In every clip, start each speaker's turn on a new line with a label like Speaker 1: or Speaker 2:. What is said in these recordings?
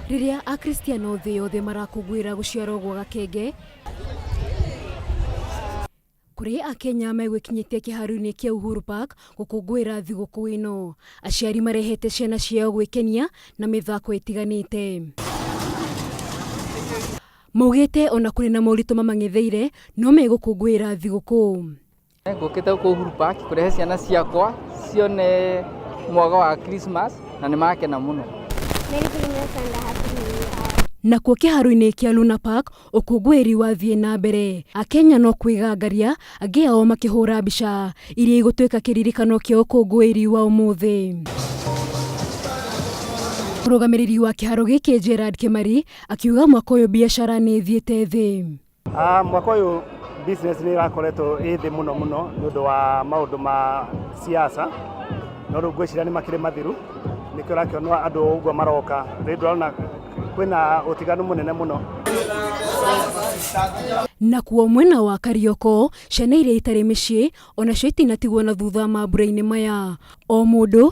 Speaker 1: rĩrĩa akristiano thĩ yothe marakũngũĩra gũciarwo gwa gakenge kũrĩ akenya megwĩkinyĩtie kĩharoinĩ kĩa uhuru park gũkũngũĩra thigũkũ ĩno aciari marehete ciana ciao gwĩkenia na mĩthako ĩtiganĩte maugĩte ona kũrĩ na moritũ mamang'etheire no megũkũngũĩra thigũkũ Ngũkĩte gũkũ Uhuru Park kũrehe ciana ciakwa cione mwaka wa Christmas na nĩ makena mũno. Merry Christmas and a Happy New Year. Nakuo kĩharo-inĩ kĩa Luna Park ũkũngũĩri wathiĩ na mbere, Akenya no kwĩgangaria angĩ ao makĩhũra mbica, iria igũtuĩka kĩririkano kĩa ũkũngũĩri wa ũmũthĩ. Mũrũgamĩrĩri wa kĩharo gĩkĩ Gerald Kĩmari akiuga mwaka ũyũ biacara nĩ ĩthiĩte thĩ. Ah, mwaka ũyũ business nĩ ĩrakoretwo ĩ thĩ mũno mũno nĩ ũndũ wa maũndũ ma siasa no rĩu ngwĩciria nĩ makĩrĩ mathiru nĩkĩo ũrakĩonwo andũ ũguo maroka rĩu ndũrona kwĩna ũtiganu mũnene mũno Nakuo mwena wa Karioko, ciana iria itarĩ mĩciĩ onacio itinatigwo na thutha mambura-inĩ maya. O mũndũ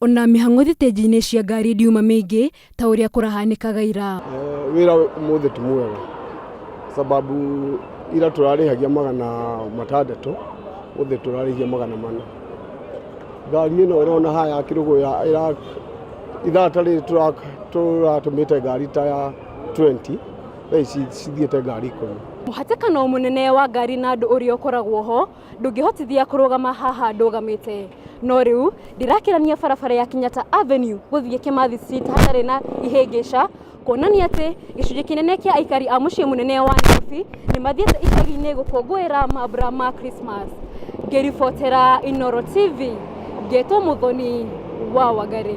Speaker 1: ona mĩhang'o thitĩnji-inĩ cia ngari ndiuma mĩingĩ ta ũrĩa kũrahanĩkaga ira Eh, wĩra ũmũthĩ ti mwega sababu ira tũrarĩhagia magana matandatũ ũthĩ tũrarĩhia magana mana ngari ĩno ĩrona haya kĩrũgũ ya ĩra- ithaa ta rĩrĩ tũra- tũratũmĩte ngari ta ya 20 thaa ici cithiĩte ngari ikũmi mũhatĩkano mũnene wa ngari na andũ ũrĩa ũkoragwo ho ndũngĩhotithia kũrũgama haha ndũgamĩte no rĩu ndĩrakĩrania barabara ya Kenyatta Avenue gũthiĩ Kimathi Street hatarĩ na ihĩngĩca kuonania atĩ gĩcunjĩ kĩnene kĩa aikari a mũciĩ mũnene wa Nairobi nĩ mathiĩte icagi-inĩ gũkũngũĩra mambura ma Christmas ngĩribotera Inoro TV ngetwo Mũthoni wa Wangari.